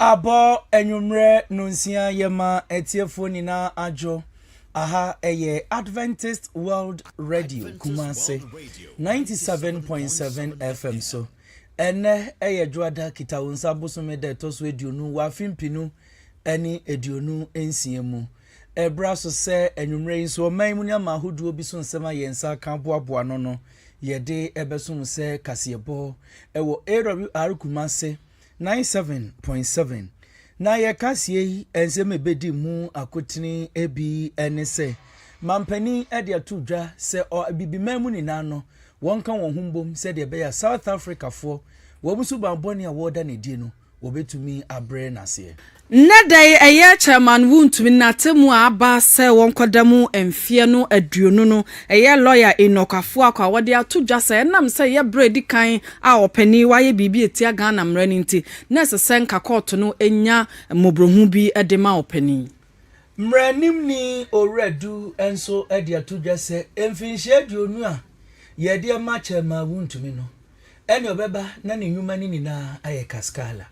Abɔ anwummerɛ nonsia yɛma atiefoɔ nyinaa adwo. Aha ɛyɛ Adventist World Radio Kumase 97.7 FM so. Ɛnɛ ɛyɛ Dwoada Kitawonsa bosome da ɛtɔ so aduonu wɔ afe mpenu ɛne aduonu nsia mu. Ɛbra so sɛ anwummerɛ yi nso ɔman mu nneɛma ahodoɔ bi so nsɛm a yɛn nsa aka aboaboa ano no, yɛde ɛbɛso mo sɛ kaseɛbɔ wɔ AWR Kumase 97.7. Na yɛn kaseɛ yi nsɛm a ɛbɛdi mu akotene bi ne sɛ, Mampanin de ato dwa sɛ Abibiman mu nyinaa no, wɔnka wɔn ho mbom sɛdeɛ ɛbɛyɛ a South Africafoɔ wɔn suban bɔne a wɔreda no adie no, wɔbɛtumi abrɛ no aseɛ. Nnɛ da yi ɛyɛ kyɛn ma no wontumi nnate mu a aba sɛ wɔnkɔda mu mfeɛ no aduonu no. Ɛyɛ lɔya Enoch Afuakɔ a wɔde ato dwa sɛ ɛnam sɛ ɛyɛ berɛ a ɛdi kan a ɔpanin yi wayɛ biribi a ɛtia Ghana mmara no nti, na ɛsɛ sɛ nka kɔɔto no nya mmɔborɔhunu bi de ma ɔpanin yi. Mmaranimni Owura Du nso de ato dwa sɛ mfinhyia aduonu a yɛde ma kyɛn ma wontumi no, Ɛnna ɔbɛba na ne nnwuma no nyinaa ayɛ kaskala.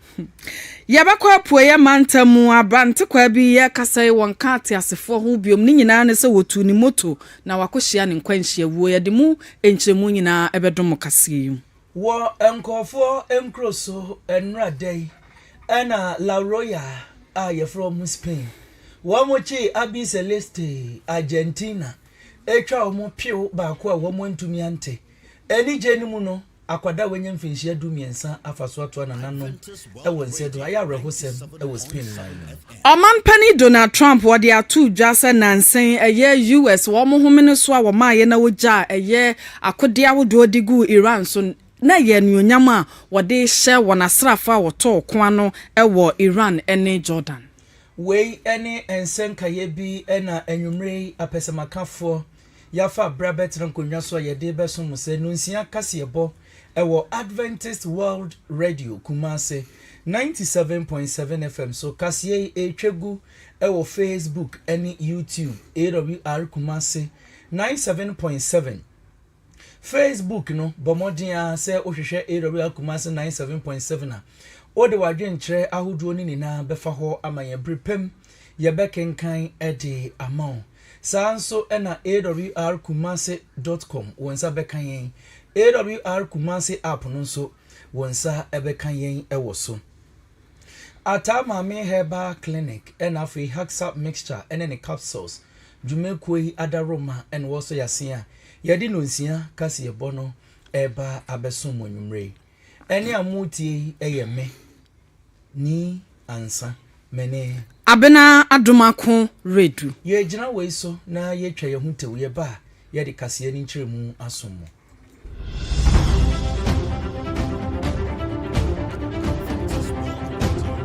Yɛbɛkɔ Apueeɛ Mantam mu. Abrantekwaa bi rekasa yi, wɔnka ateasefoɔ ho biom. Ne nyinaa ne sɛ wɔtuu ne moto na wakɔhyia ne nkwanhyia wuo. Yɛde mu nkyerɛmu nyinaa bɛdom mo kaseɛ yi mu. Wɔ nkurɔfoɔ nkuro so nnora da yi na La Roya a yɛfrɛ wɔn Spain, wɔkyee Abi Celeste, Argentina, twa wɔn pew baako a wɔantumi ante. Anigye no mu no, akwadaa a wanya mfinhyia dumiɛnsa afa so atoa nananom wɔ nsa aduru. Ayɛ awerɛhosɛm wɔ Spain man no mu. Ɔman Panin Donald Trump wɔde ato dwa sɛ nansa yi ɛyɛ US wɔn homene so a wɔmaeɛ na wɔgyaa ɛyɛ akodeɛ ahodoɔ de guu Iran so na ɛyɛ anuonyam a wɔde rehyɛ wɔn asraafoɔ a wɔtɔɔ ko ano wɔ Iran ne Jordan. Wei ne nsɛnkaeɛ bi na anwumerɛ yi apɛsɛmakafoɔ yɛafa bere abɛtena nkonnwa so a yɛde rebɛsom sɛ Nonsia Kaseɛbɔ wɔ Adventist World Radio, Kumasi, 97.7 FM so. Kaseɛ yi ɛretwa gu wɔ Facebook ne YouTube, AWR Kumasi, 97.7. Facebook no, bɔ mmɔden ara sɛ wohwehwɛ AWR Kumasi 97.7 a, wode w'adwenkyerɛ ahodoɔ no nyinaa bɛfa hɔ ama yɛn. Bere pa mu, yɛbɛkenkan de ama wo. Saa nso na AWR Kumase dot com wo nsa bɛka yɛn. AWR Kumase app no nso wo nsa bɛka yɛn wɔ so. Ataa Maame Herbal Clinic na afei Haxap Mixture ne ne Capsules dwumakuo yi adaworoma na wɔsɔ yɛase a yɛde nnonsia kaseɛbɔ no reba abɛsom mo anwummere yi. Ɛnne a moretie yi yɛ me, Nii Ansa. Mene. Abena Adom Ako Redu. Yɛgyina wei so na yɛtwa yɛn ho tew, yɛba a, yɛde kaseɛ ne nkyerɛmu asom mo.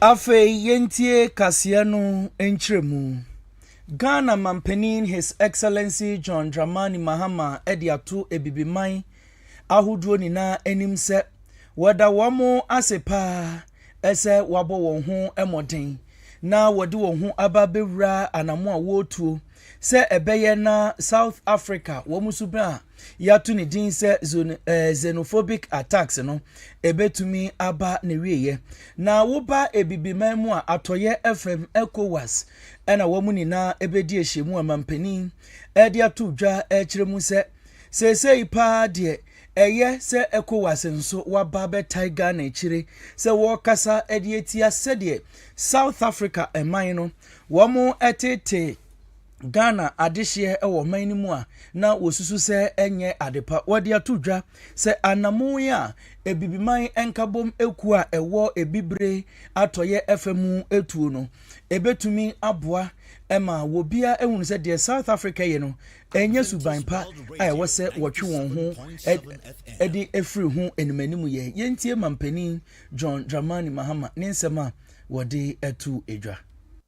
Afei yɛntie kaseɛ no nkyerɛmu. Ghana Mampanin His Excellency John Dramani Mahama de ato Abibiman ahodoɔ nyinaa anim sɛ wɔda wɔn ase pa ara sɛ wɔabɔ wɔn ho mmɔden na wɔde wɔn ho aba abɛwura anamo a wɔretuo sɛ ɛbɛyɛ na South Africa wɔn nso bɛnya yɛato ne din sɛ eh, xenophobic attacks no ɛbɛtumi aba ne wieɛ na woba abibiman mu a atɔyɛ fam ecowas ɛna wɔn nyinaa ɛbɛdi ahyia mu amampanin ɛde ato dwa ɛkyerɛ mu sɛ seesei paa deɛ ɛyɛ sɛ ecowas nso waba bɛtae ghana akyire sɛ wɔrekasa ɛde atia sɛdeɛ south africa ɛman no wɔn ɛtete Ghana adehyeɛ wɔ ɔman no mu a na wɔsusu sɛ ɛnyɛ adepa. Wɔde ato dwa sɛ anammɔn yi a Abibiman Nkabom Ekuo a ɛwɔ Abibire Atɔeɛ fa mu tuo no, ɛbɛtumi aboa ma wɔbiara ahunu sɛ deɛ South Africa yɛ no ɛnyɛ suban pa a ɛwɔ sɛ wɔtwe wɔn ho de afiri ho animanim yɛ. Yɛntie Mampanin John Dramani Mahama ne nsɛm a wɔde ato dwa.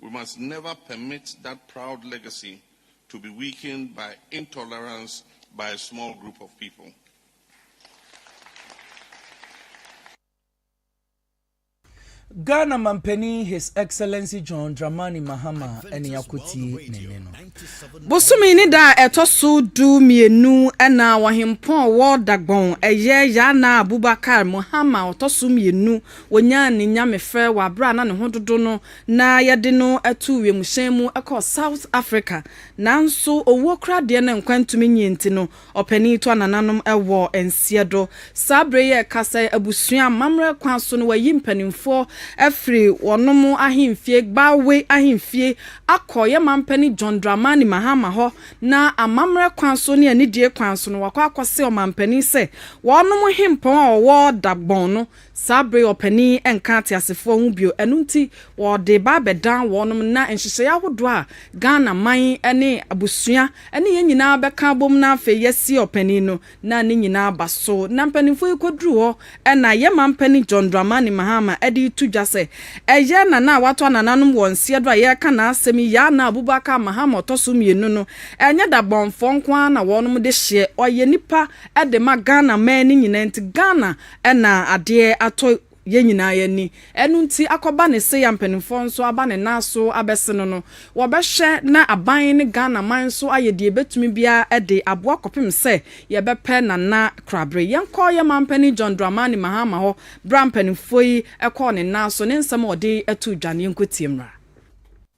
We must never permit that proud legacy to be weakened by intolerance by a small group of people. Ghana Mampanin His Excellency John Dramani Mahama ne yɛakɔtie ne nne no. Bosome ne da a ɛtɔ so du mmienu na Ɔhempɔn Walda Gbon ɛyɛ Yana Abubakar Mahama ɔtɔ so mmienu Wonyaa ne nyamefrɛ wɔ bere a na ne ho dodow no na wɔde no too wimhyɛn mu kɔɔ South Africa. Nanso owuo koraa deɛ na nkwa ntumi nyie nti no, ɔpanin yi toa nananom wɔ nseɛdo. Saa bere yi a yɛrekasa yi, abusua amammerɛ kwan so no, wɔayi mpanimfoɔ afiri wɔnom ahemfie, Gbawe ahemfie, akɔ yɛn mampanin John Dramani Mahama hɔ, na amammerɛ kwan so ne anidie kwan so no, wɔakɔ akɔse ɔmampanin sɛ wɔnom hempɔn a ɔwɔ Dagbon no Saa bere yi ɔpanin yi nka ateasefoɔ ho bio, ɛno nti wɔde reba abɛdan wɔnom na nhyehyɛeɛ ahodoɔ a Ghana man ne abusua ne yɛn nyinaa bɛka abom na afei yɛasie ɔpanin no na ne nyinaa aba so na mpanimfoɔ yi kɔduru hɔ na yɛn manpanin John Dramani Mahama de reto dwa sɛ ɛyɛ Nana a wato anananom wɔ nseɛ do a yɛreka n'asɛm yi Yaa Naa Abubakar Mahama ɔtɔ so mmienu no ɛnyɛ dabɔnfoɔ nko ara na wɔnom de hyeɛ ɔyɛ nipa de ma Ghana man no nyinaa nti Ghana Ɛna adeɛ atɔ yɛn nyinaa ani. Ɛno nti akɔba ne sei a mpaninfoɔ nso aba ne nan so abɛse no no, wɔbɛhwɛ na aban ne Ghana man nso ayɛ deɛ ɛbɛtumi biara de aboa kɔpem sɛ yɛbɛpɛ Nana Krabere. Yɛnkɔ yɛn manpanin John Dramani Mahama hɔ berɛ a mpaninfoɔ yi kɔɔ ne nan so, ne nsɛm a ɔde too dwa no yɛnkɔtie mmra.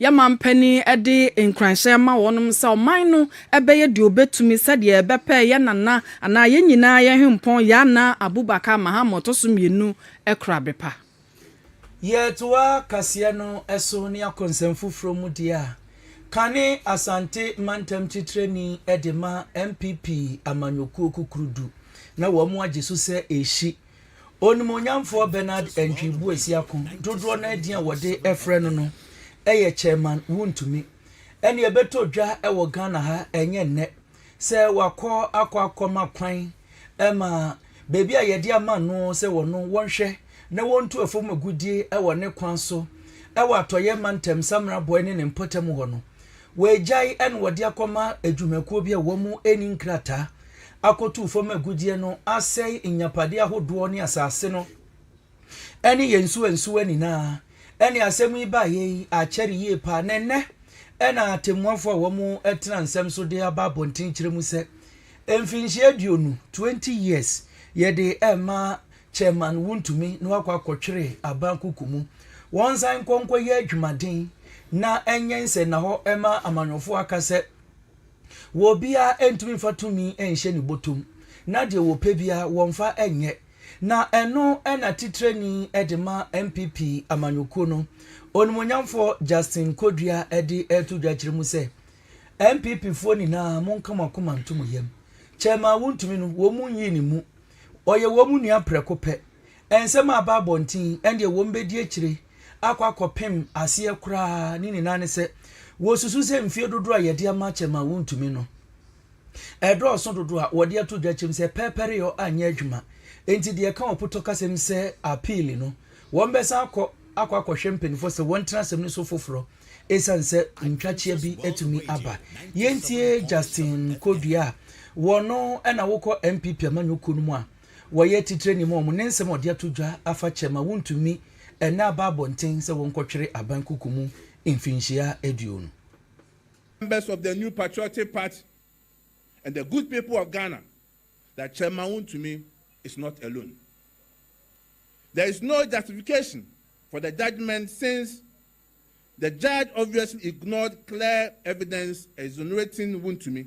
Yɛn mampanin de nkuranhyɛ ma wɔn sɛ ɔman no bɛyɛ deɛ ɔbɛtumi sɛdeɛ ɛbɛpɛ yɛn nana anaa yɛn nyinaa yɛn hempɔn Yaa Naa Abubakar Mahama ɔtɔ so mmienu Kurabepa. Yɛtoa kaseɛ no so ne akɔnsɛm foforɔ mu deɛ a kane Asante mantam titrani de ma NPP amanyɔkuo kukurudu na wɔn agye so sɛ ɛrehyi. Onimuonyamfoɔ Bernard Antwi Boasiako dodoɔ no ara din a wɔde frɛ no no yɛ Chairman Wontumi. Ɛnna ɛbɛtɔ dwa wɔ Ghana ha ɛnyɛ nnɛ sɛ wakɔ akɔ akɔma kwan ma baabi a yɛde ama no sɛ wɔno wɔnhwɛ na wɔntu afam agudie wɔ ne kwan so wɔ atɔyɛ mantam Samena Bɔe ne ne mpɔtam hɔ no. Wɔagyae na wɔde akɔma adwumakuo bi a wɔn ani nkrataa akotu fam agudie no asɛe nyapadeɛ ahodoɔ ne asase no ɛne yɛn nsuwansuwa nyinaa ɛne asɛm yi baeɛ yi akyɛre yie paa na ɛnɛ ɛna atemmuafoɔ a wɔn tena nsɛm so de aba abɔnten kyerɛ mu sɛ mfinhyia aduonu 20 years yɛde ɛma chairman wontumi na wakɔ akɔtwere aban kuku mu wɔn nsan nkɔnkɔ yɛ adwumaden na ɛnyɛ nsɛ na hɔ ɛma amanyɔfoɔ aka sɛ Wɔ obiara ɛntumi mfa tumi nhyɛ ne bɔtɔ mu, na deɛ wɔpɛ biara wɔmfa nyɛ. Na ɛno na titrani de ma NPP amanyɔkuo no, Onimuonyamfoɔ Justin Kodua de reto dwa kyerɛ mu sɛ, NPP foɔ nyinaa monka mo akoma nto mo yam. Chairman Wontumi no, wɔn nyii ne mu. Ɔyɛ wɔn nua prɛko pɛ. Nsɛm a aba abɔnten ɛndeɛ wɔn bɛdi akyire akɔ akɔpem aseɛ koraa ne nyinaa ne sɛ wɔsusu sɛ mfie dodoɔ a yɛde ama kyɛm a wɔntumi no ɛdɔɔso dodoɔ a wɔde ato dwa kyɛm sɛ pɛrpɛreyɔ anyɛ adwuma enti deɛ ɛka ɔpotɔkasɛm sɛ appeal no wɔn bɛsan akɔ akɔ akɔhwɛ mpanimfoɔ sɛ wɔntena asɛm no so foforɔ ɛsiane sɛ ntwakyea bi atumi aba. Yɛntie Justin Kodua a wɔno ɛna wokɔ NPP amanyɔkuo no mu a wɔyɛ atitire nim wɔn, ne nsɛm a wɔde ato dwa afa kyɛ ma wontumi nna aba abɔnten sɛ wɔnkɔtwere aban kuku mu mfinhyia aduonu. Members of the New Patriotic Party and the Good People of Ghana that Chairman Wontumi is not alone. There is no justification for the judgement since the judge obviously ignored clear evidence exonerating Wontumi.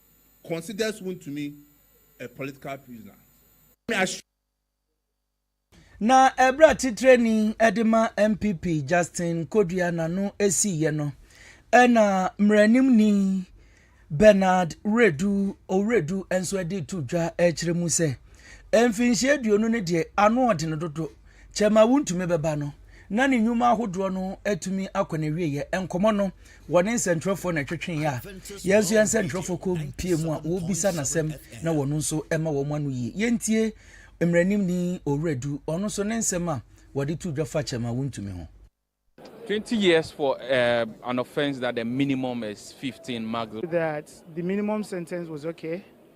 considers wontumi a political prisoner. Na ɛberɛ a titrani de ma NPP Justin Kodua n'ano siiɛ no, ɛna mmaranimni Bernard Wiredu Owiredu nso de to dwa kyerɛ mu sɛ mfinhyia aduonu no deɛ ano ɔden dodo kyɛma wontumi bɛba no na ne nnwuma ahodoɔ no atumi akɔ n'awieɛ. Nkɔmmɔ no Wɔne nsɛntwerɛfoɔ na ɛtwetwee a yɛn nso yɛn nsɛntwerɛfoɔ kɔ pie mu a wɔbisa n'asɛm na wɔn nso ma wɔn ano yie. Yɛntie mmaranimni Owura Du ɔno nso ne nsɛm a wɔde to dwa fa kyɛm a wontumi ho. Twenty years for uh, an offense that the minimum is fifteen magl. That the minimum sentence was okay.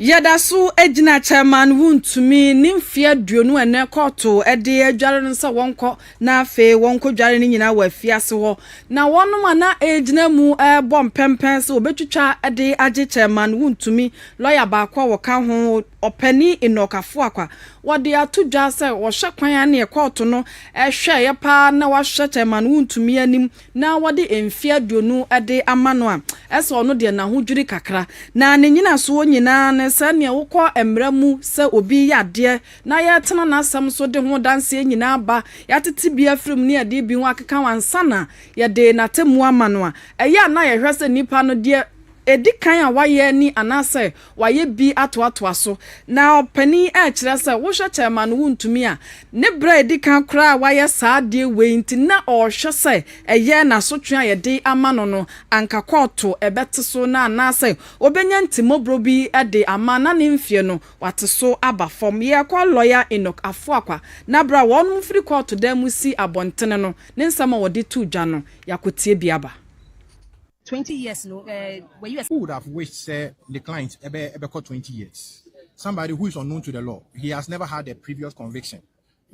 Yɛda so gyina Chairman Wontumi ne mfe aduonu a nnɛ kɔɔto de adware no sɛ wɔnkɔ na afei wɔnkɔdware no nyinaa wɔ afiase hɔ, na wɔnom a na ɛregyina mu rebɔ mpɛmpɛn sɛ wɔbɛtwitwa de agye Chairman Wontumi, lɔya baako a wɔka ho Ɔpanin Enoch Afoakwa, wɔde ato dwa sɛ wɔhwɛ kwan a neɛ kɔɔto no hwɛeɛ paa na wɔahwɛ Chairman Wontumi anim na wɔde mfe aduonu de ama no a, ɛsɛ ɔno deɛ n'ahodwiri kakra. Na ne nnyinasoɔ nyinaa ne sɛdeɛ wokɔ mmara mu sɛ obi reyɛ adeɛ na yɛretena n'asɛm so de ho adanseɛ nyinaa aba, yɛatete bi afiri mu ne yɛde ebi ho akeka ho ansa na yɛde n'atemmuo ama no a, ɛyɛ a na yɛhwɛ sɛ nipa no deɛ ɛdi kan a wayɛ ni anaasɛ Wayɛ bi atoatoa so, na ɔpanin rekyerɛ sɛ wohwɛ kyɛ ma no wontumi a, ne berɛ a ɛdi kan koraa a wayɛ saa adeɛ wei nti na ɔrehwɛ sɛ ɛyɛ na asotwe a yɛde ama no no anka kɔɔto ɛbɛte so na anaasɛ ɔbɛnya ntimmɔborɔ bi de ama na ne mfeɛ no wate so aba fam. Yɛkɔ Lɔya Enoch Afoakwa na berɛ a wɔnom firi kɔɔto dan mu si abɔntene no ne nsɛm a ɔde to dwa no, yɛakɔtie bi aba. Twenty years no eh, wɔ US. Who would have wished sɛ ne client ɛbɛ ɛbɛkɔ twenty years? Somebody who is unknown to the law, he has never had a previous conviction,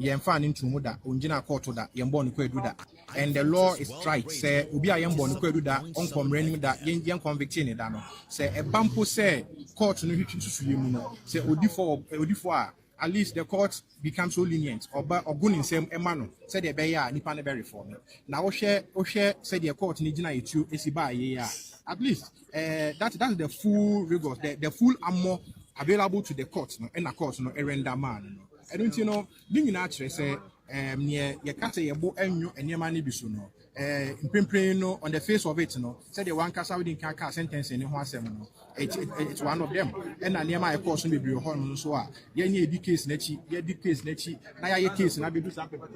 yɛn nfaa no ntuu mu da, ongyinaa kɔɔto da, yɛn bɔɔ no kwaadu da, and the law is straight sɛ obi a yɛn bɔɔ no kwaadu da, ɔnkɔ mmara anim da, yɛn yɛn convictee ne da no, sɛ ɛba mpo sɛ kɔɔto no hwetwe nsusuiɛ mu no, sɛ odi fɔ wɔ odi fɔ a, At least the court become so lenient ɔba ɔgo ne nsam ma no sɛdeɛ ɛbɛyɛ a nipa no bɛ reform na wohwɛ wohwɛ sɛdeɛ court no gyina etuo esi baa yie a at least eh, that that's the full rigors the the full armor available to the court no ɛna court no ɛrenda maa no no ɛno nti no ne nyinaa kyerɛ sɛ eh, neɛ yɛka sɛ yɛbo ɛnwo nneɛma no bi so no Eh, mprempren no, on the face of it no, sɛdeɛ wankasa wode nka kaa sentencing no ho asɛm no, it's, it, it's one of them. Ɛna nneɛma a ɛkɔɔ so bebree hɔ no nso a, yɛnyɛ yɛdi case n'akyi, yɛdi case n'akyi, na yɛayɛ case no abɛdu saa pɛpɛ.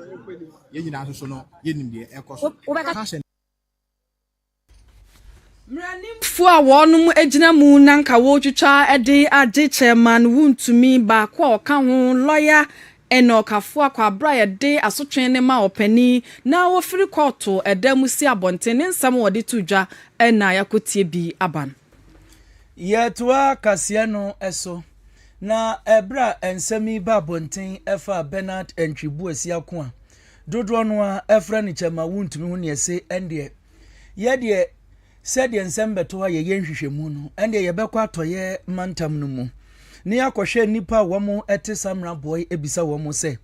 Yɛn nyinaa nso so no, yɛnim deɛ ɛkɔ so. Wobɛka mmaranimfoɔ a wɔnom gyina mu na nka wɔretwitwa de agye chairman wontumi baako a ɔka ho lɔya Ɛnna ɔkafo a kwabere a yɛde asotwe ne ma ɔpanyin na wofiri kɔɔto dan mu si abɔnten ne nsɛm a wɔde to dwa na yɛakotie bi aba no. Yɛtoa kaseɛ no so, na ɛberɛ a nsɛm yi ba abɔnten fa Bernard Antwi Boasia ko a dodoɔ no ara frɛ no Kyɛmma Wontumi ho na yɛse ɛndeɛ yɛdeɛ Sɛdeɛ nsɛm bɛtɔ a yɛyɛ nhwehwɛmu no, ɛnneɛ yɛbɛkɔ atɔeɛ mantam no mu na yɛakɔhwɛ nnipa a wɔte Samra Bɔe abisa wɔn sɛ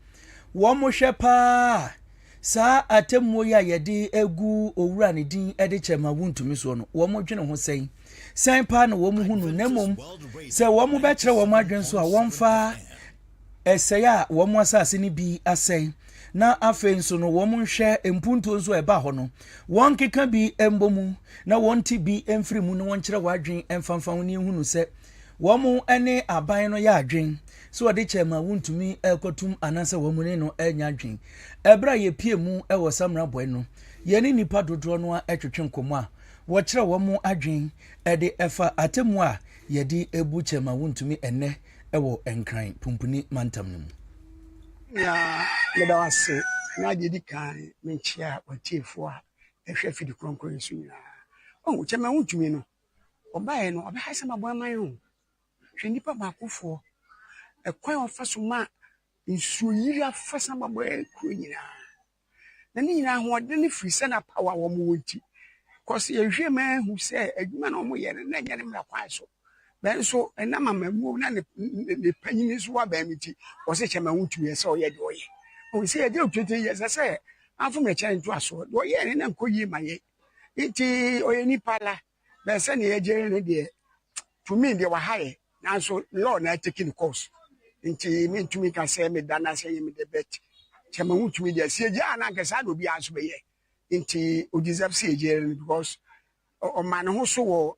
wɔhwɛ pa ara a saa atemmuo yi a yɛde agu owura ne din de kyɛ ma wontumi soɔ no, wɔdwene ho sɛn? Sɛn pa ara na wɔhunu no na mmom sɛ wɔbɛkyerɛ wɔn adwene so a wɔmfa ɛsɛe a wɔn asase no bi asɛe na afei nso no wɔn nhwɛ mpuntuo nso a ɛba hɔ no wɔnkeka bi mbɔ mu na wɔnte bi mfiri mu na wɔnkyerɛ wɔn adwene mfamfa ho ne ehunu sɛ wɔn ne aban no yɛ adwene sɛ wɔde kyɛ ma wontumi ɛkɔtum anaasɛ wɔn ne no ɛnya adwene ɛberɛ a yɛpie mu ɛwɔ samina bɔe no yɛne nnipa dodoɔ no a ɛtwetwe nkɔmmɔ a wɔkyerɛ wɔn adwene ɛde ɛfa atemu a yɛde ebu kyɛ ma wontumi ɛnɛ wɔ Nkran Pumpuni Mantam no mu. Nea meda wo ase na deɛ ɛdi kan menkyea w'atiefoɔ a ɛhwɛ fidi kronkron yi so nyinaa. Ɔhu kyɛ ma wontumi no, ɔbaeɛ no ɔbɛha sɛ maboa man ho. Hwɛ nnipa baakofoɔ, ɛkwan a ɔfa so ma nsuo yiri afasa ma bɔɛ kuro nyinaa. na ne nyinaa ahoɔden no firi sɛ na power a wɔn wɔ nti cause yɛhwɛ ma ehu sɛ adwuma na wɔn yɛ no na ɛnyɛ ne mmara kwan so bɛn so ɛnam amamuo na ne ne panyin nso wa bɛn mi ti wɔsɛ kyɛ ma ho tumi ɛsɛ ɔyɛ deɛ ɔyɛ wɔn sɛ yɛde otwetwe yɛ sɛ sɛ afom ɛkyɛn nto asoɔ deɛ ɔyɛ ne na nkɔ yie ma yɛ nti ɔyɛ nipa la. bɛɛ sɛnea yɛgye ne deɛ to me deɛ waha yɛ nanso law na ateki ne course nti mentumi ka sɛ meda no asɛ yɛ mede bet kyɛ ma ho tumi deɛ sɛ yɛgye a na anka saa na obiara nso bɛyɛ nti ɔdeserve sɛ yɛgye no because ɔma ne ho so wɔ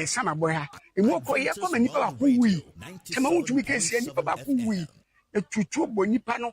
samabɔ ha ɛmu ɔkɔ yɛ kɔma nnipa baako wui kyɛ ma ho tumi kɛseɛ nnipa baako wui ɛtutuo bɔ nnipa no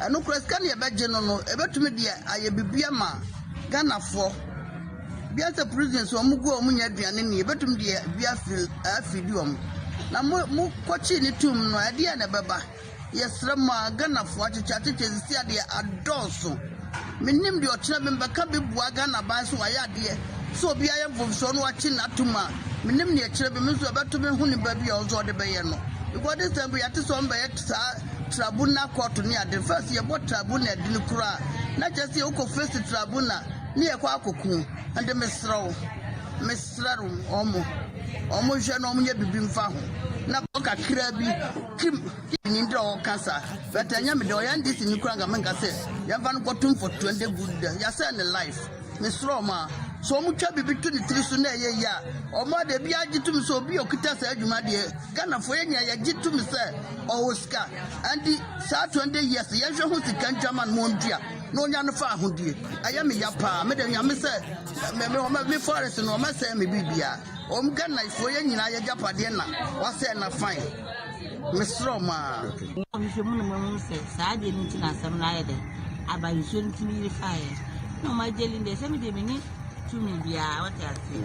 Ɛno kora sika no yɛbɛgye no no ɛbɛtumi de ayɛ biribi ama Ghanafoɔ. Bia sɛ prisons wɔn gu a wɔn nya aduane ni ɛbɛtumi de bi afiri afidi wɔn. Na mo mo kɔkye ne tum no ɛdeɛ na ɛbɛba. Yɛsrɛ mo a Ghanafoɔ akyekyɛ akyekyɛ sisi adeɛ adɔɔso. Menim deɛ ɔkyerɛ me mbɛka bi boa Ghana ban so wayɛ adeɛ sɛ obi ayɛ mfomsoɔ no wakye no atum a menim deɛ ɛkyerɛ me me nso ɛbɛto me ho nipa bi a ɔnso ɔde bɛyɛ no. Because this time yɛate sɛ wɔn bɛyɛ saa trabunal kɔɔto ne ade no fa sɛ yɛbɔ trabunal din koro a na kyerɛ sɛ wokɔ fesi trabunal ne yɛkɔ akɔku ɛnde mesrɛ wo mesrɛ no wɔn wɔn nhwɛ na wɔn nyɛ biribi mfa ho na kakra bi kim nim dɛ ɔka sa but ɛnyɛ me dɛ ɔyɛ ndc ni kora nka menka sɛ yɛmfa no kɔto mfɔtoa ndɛ gu dɛ yɛsɛ ne life mesrɛ wɔn a sɛ wɔn twa biribi to ne tiri so na ɛyɛ yie a wɔn ade bi agye tum sɛ obi okuta saa adwuma deɛ ghanafoɔ yɛ nyinaa yɛgye tum sɛ Ɔwɔ sika ɛnti saa 20 years yɛn hwɛ ho sika ntwa man mo ndua na onya no fa ahodie ɛyɛ me ya paa me de nyame sɛ me me wɔn me forest no wɔn ɛsɛn me biribia wɔn Ghana foɔ yɛn nyinaa yɛ gyapadeɛ na wasɛn na fine me srɛ wɔn aa. Nhwehwɛ mu no mahu sɛ saa adeɛ no nti na asɛm no ayɛ dɛ aba nsuo no tumi yiri faeɛ na ɔma agye lin deɛ sɛ me deɛ menni tumi biara wote aseɛ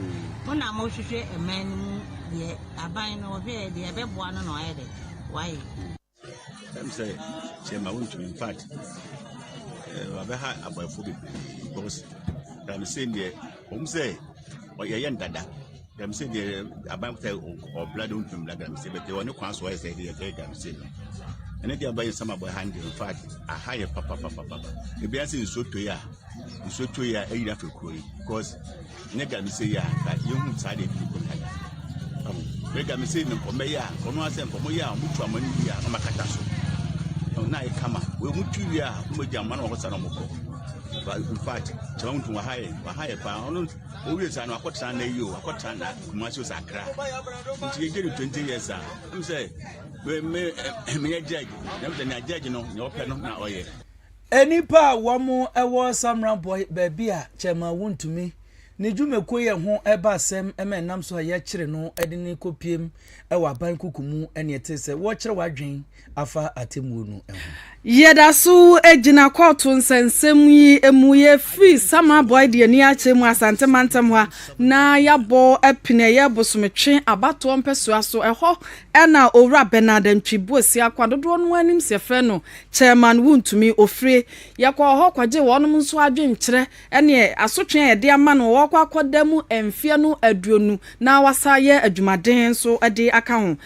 mo na mohwehwɛ ɛman no mu deɛ Aban no ɔhwɛɛ deɛ ɛbɛboa no na wayɛ dɛ wayɛ. Ɛm sɛ kyɛma wontumi infact wabɛha aborɔfo bebree because dam sɛ deɛ wɔn sɛ ɔyɛyɛ ndada dam sɛ deɛ aban sɛ ɔbla de wontumi bla dam sɛ bɛtɛ ɔne kwan so ɔyɛ sɛ deɛ ɛyɛ dam sɛ no ɛne deɛ abayɛ nsɛm abɔ ha ndeɛ infact aha yɛ papapapapa ebi ase nsuo tɔ yi a nsuo tɔ yi a ɛyira fɛ kuro yi because nyɛ gya mi sɛ yɛ a nka yɛhu saa deɛ ɛdi kɔ kaya bɛga mi sɛ me nkɔmɛ yɛ a nkɔno asɛ nkɔmɔ yɛ a ɔmo tu ama no wie a ɔmo akata so na ayɛ kama wei ɔmo tu wie a ɔmo agya ama no ɔmo sa na ɔmo kɔ in fact kyerɛ wɔn tun waha yɛ waha yɛ paa ɔno owie saa no akɔtena na eyi o akɔtena na kumasi o sa akra nti yɛ gye no twenty years a ɛmu sɛ me me me yɛ judge na ɛmu sɛ na judge no na ɔpɛ no na ɔyɛ. Nnipa a wɔwɔ Samra Bɔe, baabi a kyɛmma wontumi, ne dwumakuo yɛ ho ba asɛm ma ɛnam so a yɛkyere no de no kɔpiem wɔ aban kuku mu ne ɛte sɛ wɔrekyerɛ w'adwene afa atemmuo no ho. Yɛda so gyina kɔɔto nsɛnsɛm yi mu. Yɛfiri Samra Bɔe de ani akyerɛ mu Asante mantam ha na yɛabɔ apini ɛyɛ Bosometwe abatoɔ mpɛsoa so. Ɛhɔ na Owura Bernard Antwi Boasia Akwa, dodoɔ no ara nim sɛ yɛfrɛ no Chairman Wontumi, Ofire. Yɛkɔɔ hɔ kɔgyee wɔnom nso adwenkyerɛ ne asotwe a yɛde ama no wɔ wɔkɔ akɔda mu mfeɛ no aduonu na wasan ayɛ adwumaden nso de aka ho.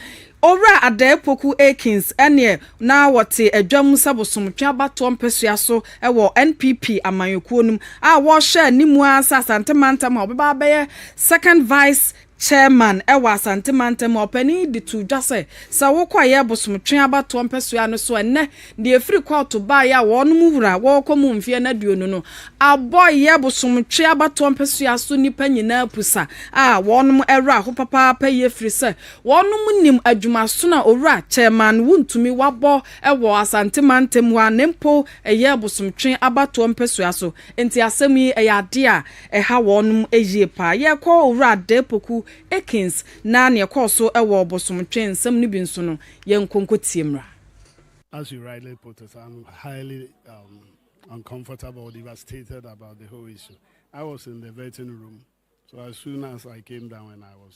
Owura Adah Apoku Akins neɛ na wɔte adwa mu sɛ bosomtwe abatoɔ mpɛsua so wɔ NPP amanyɔkuo no mu a wɔhyɛɛ ne mu ara sɛ Asante Mantam a ɔbɛba abɛyɛ Second Vice Chairman wɔ Asante mantam a ɔpanin yi de too dwa sɛ, sɛ wokɔ a yɛ bosom twe abatoɔ mpɛsoa no so a nnɛ deɛ ɛfiri kɔɔto baeɛ a wɔnom wura wɔɔkɔ mu mfeɛ no aduonu no abɔ yɛ bosom twe abatoɔ mpɛsoa so nnipa nyinaa pusa a wɔnom wra ho papaapa yie firi sɛ wɔnom nim adwumasono a owura Chairman Wontumi wabɔ wɔ Asante mantam hɔ a na mpo yɛ bosom twe abatoɔ mpɛsoa so nti asɛm yi yɛ adeɛ a Ɛha wɔnom yie paa. Yɛkɔ Owura Adah Apoku Akins na neɛ ɛkɔɔ so wɔ ɔbosomtwe nsɛm no bi nso no, yɛnkɔ nkɔtie mmra. As you rightly put it, I'm highly um, uncomfortable or devastated about the whole issue. I was in the vetting room, so as soon as I came down and I was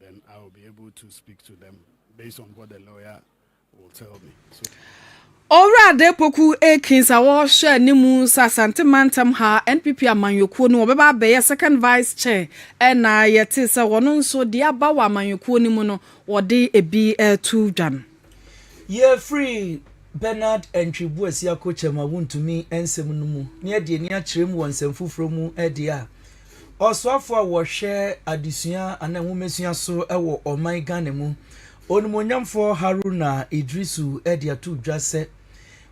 then I will be able to speak to them based on what the lawyer will tell me. So. Owura Adepoku Akins a wɔhwɛ anim sɛ Asante mantam ha NPP amanyɔkuo no wɔbɛba abɛyɛ second vice chair ɛna yɛte sɛ wɔn nso deɛ aba wɔ amanyɔkuo no mu no wɔde ebi ɛto dwa no. Yɛfiri Bernard Antwi Boasia Kokyɛm a wontumi nsɛm no mu na yɛde ani akyerɛ mu wɔ nsɛm foforɔ mu deɛ a, Ɔsoafoɔ a wɔhwɛ adesua anaa nwomasua so wɔ ɔman Ghana mu, Onimuonyamfoɔ Haruna Iddrisu de ato dwa sɛ,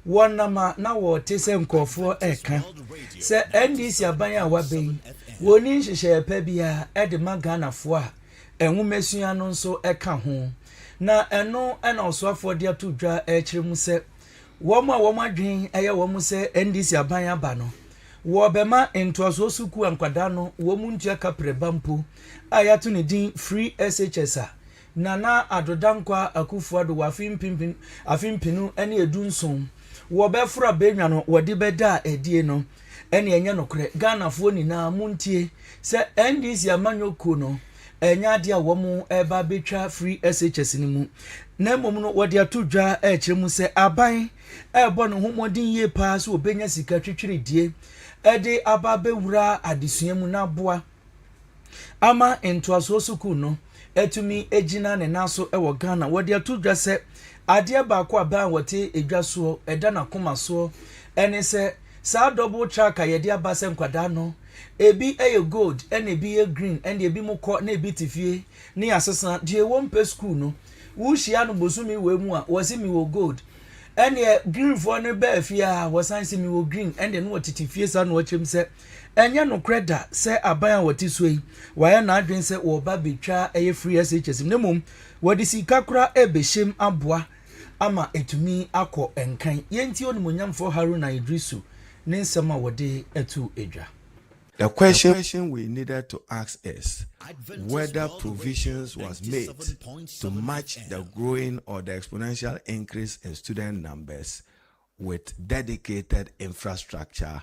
wɔnam a na wɔte sɛ nkorɔfoɔ reka sɛ NDC aban a waba yi wɔnni nhyehyɛeɛ pa biara de ma Ghanafoɔ a, Nwomasua no nso ka ho, na ɛno na ɔsoafoɔ de ato dwa rekyerɛ mu sɛ wɔn a wɔn adwene yɛ wɔn sɛ NDC aban aba no, wɔbɛma ntoasoɔ sukuu a nkwadaa no wɔn ntua kaprɛba mpo a yɛato ne din Free SHS a Nana Addo Dankwaah Akufo-Addo wɔ afe mpempem afe mpenu ne edu nson wɔbɛforo abɛnwa no wɔde bɛda adie no. ɛne ɛnyɛ nokorɛ Ghanafoɔ nyinaa montie sɛ NDC amanyɔ kuo no ɛnyɛ adeɛ a wɔn ɛba bɛtwa firi SHS no mu na mmom no wɔde ato dwa ɛkyerɛ mu sɛ aban ɛbɔ ne ho mmɔden yie paa sɛ wɔbɛnya sika twitwiridie ɛde aba bɛwura adesua mu na aboa ama ntoasoɔ sukuu no atumi agyina ne nan so wɔ Ghana. Wɔde ato dwa sɛ adeɛ baako a bɛn a wɔte edwa soɔ ɛda n'akoma soɔ ɛne sɛ saa double track a yɛde aba sɛ nkwadaa no ebi yɛ gold ɛna ebi yɛ green ɛna ebi mo kɔ na ebi te fie ne asesa deɛ wɔn mpɛ sukuu no wohyia no bosomi wɔ mu a wɔsi mi wɔ gold ɛna greenfoɔ no bɛɛ fie a wɔsan si mi wɔ green ɛna no wɔtete fie saa na wɔkyerɛ mu sɛ Ɛnyɛ nokorɛ da sɛ aban a wɔte soɔ yi wayɛ n'adwene sɛ wɔreba abɛtwa ɛyɛ free SHS mu na mmom wɔde sika koraa rebɛhyɛm aboa ama atumi akɔ nkan. Yɛntie Onimuonyamfoɔ Haruna Iddrisu ne nsɛm a wɔde too dwa. The question we needed to ask is whether provisions was made to match the growing or the exponential increase in student numbers with dedicated infrastructure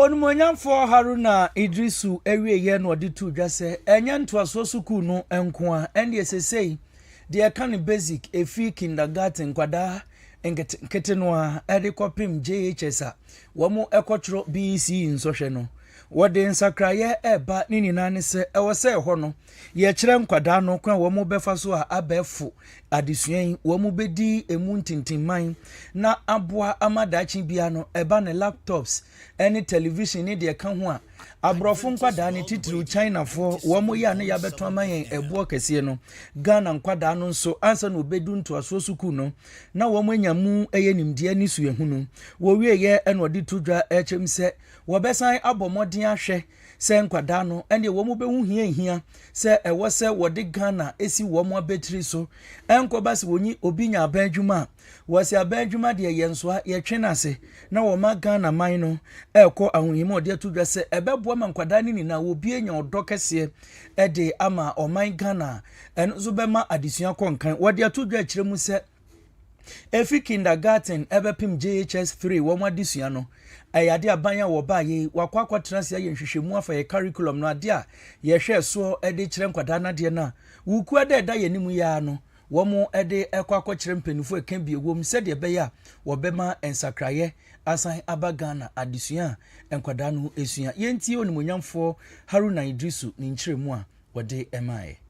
Onimuonyamfoɔ Haruna Iddrisu awieeɛ na ɔde too dwa sɛ ɛnyɛ ntoasoɔ sukuu no nko ara, ɛndeɛ seesei deɛ ɛka no basic, ɛfiri kindergarten, nkwadaa nketenkete no ara de kɔpem JHS a wɔkɔtwerɛ BECE nsɔhwɛ no, wɔde nsakraeɛ reba, ne nyinaa ne sɛ ɛwɔ sɛ ɛhɔ no Yɛkyerɛ nkwadaa no kwan a wɔbɛfa so a abɛɛfo adesua yi wɔbɛdi emu ntintimman na aboa ama daakye biara no ɛba ne laptops ne television ne deɛ ɛka ho a aborɔfo nkwadaa no titiriw chinafoɔ wɔyɛ a na yɛabɛto ama yɛn ɛboɔ kɛseɛ no ghana nkwadaa no nso ansa na wɔbɛdu ntoasoɔ sukuu no na wɔanya mu ɛyɛ nimdeɛ ne suahunu wɔwieɛ ɛna ɔde to dwa ɛkyɛm sɛ wɔbɛsan abɔ mmɔden ahwɛ sɛ nkwadaa no, ɛnneɛ wɔn bɛhu hia hia sɛ ɛwɔ sɛ wɔde Ghana si wɔn abatiri so. Ɛnkɔba sɛ wɔnyi obi nya aban adwuma a, wɔsɛ aban adwuma deɛ yɛn nsoa, yɛtwe no ase na wɔma Ghana man no ɛrekɔ ahohim a wɔde ato dwa sɛ ɛbɛboa ma nkwadaa no nyinaa wɔbie nya ɔdɔ kɛseɛ de ama ɔman Ghana. Ɛno nso bɛma adesua kɔ nkan. Wɔde ato dwa akyire mu sɛ. Efi kindergarten ɛbɛpem JHS 3 wɔn adesua no, ɛyɛ ade a ban a wɔbaa yei, wakɔ akɔtena ase ayɛ nhwehwɛmu afa yɛ curriculum no, adeɛ a yɛhwɛɛ soɔ de kyerɛ nkwadaa no adeɛ no a wukua da ɛda yɛn anim yi ara no, wɔn de kɔ akɔkyerɛ mpaninfoɔ ɛka bi ɛwɔ mu sɛdeɛ ɛbɛyɛ a wɔbɛma nsakraeɛ asan aba Ghana adesua a nkwadaa no sua. Yɛntie Onimuonyamfoɔ Haruna Iddrisu ne nkyerɛmu a wɔde maaeɛ.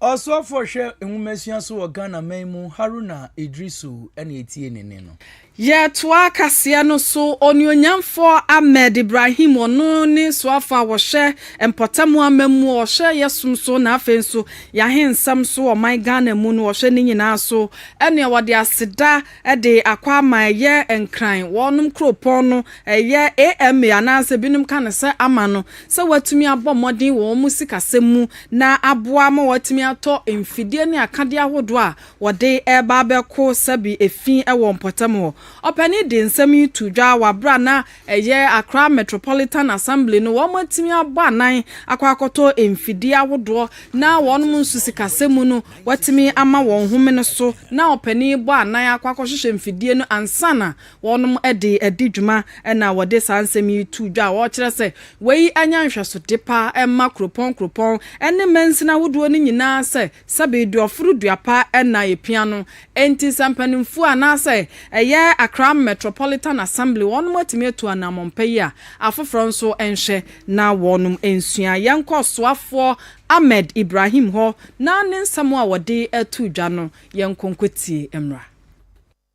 Ɔsoafoɔ hwɛ nwomasua so wɔ Ghana man mu Haruna Idrisu na ɛtie ne nne no. Yɛtoa kaseɛ no so, Onuonyamfoɔ Ahmed Ibrahim, ɔno ne soafoɔ a ɔhwɛ mpɔtam aman mu, ɔhwɛ yɛ som so na afei nso yɛ ahensɛm so wɔ ɔman Ghana mu no, ɔhwɛ ne nyinaa so, ɛne ɔde aseda, de akɔ ama ɛyɛ Nkran, wɔnom kuropɔn no, ɛyɛ AMA anaasɛ binom ka no sɛ ama no, sɛ wɔatumi abɔ mmɔden wɔ wɔn sikasɛm mu na aboa ma wɔatumi atɔ mfidie ne akadeɛ ahodoɔ a wɔde reba abɛko sɛbe efi wɔ mpɔtam hɔ. Ɔpanin de nsɛm yi too dwa wɔ berɛ a na Ɛyɛ Accra Metropolitan Assembly no wɔn atumi abɔ anan akɔ akɔtɔ mfidie ahodoɔ na wɔn nso sikasɛm mu no wɔatumi ama wɔn homene so na ɔpanin bɔ anan akɔ akɔhwehwɛ mfidie no ansa na wɔn de adi dwuma na wɔde saa nsɛm yi too dwa a wɔkyerɛ sɛ wei anya nhwɛsode pa ma kuropɔn kuropɔn ne mansini ahodoɔ no nyinaa sɛ sɛ beedu aforo duapa na yɛpia no, enti sɛ mpanimfoɔ anaasɛ ɛyɛ Accra Metropolitan Assembly wɔnom atumi atu anammɔn pa yi a, afoforɔ nso nhwɛ na wɔnom nsua. Yɛnkɔ Ɔsoafoɔ Ahmed Ibrahim hɔ na ne nsɛm a ɔde too dwa no, yɛnkɔ nkɔtie mmra.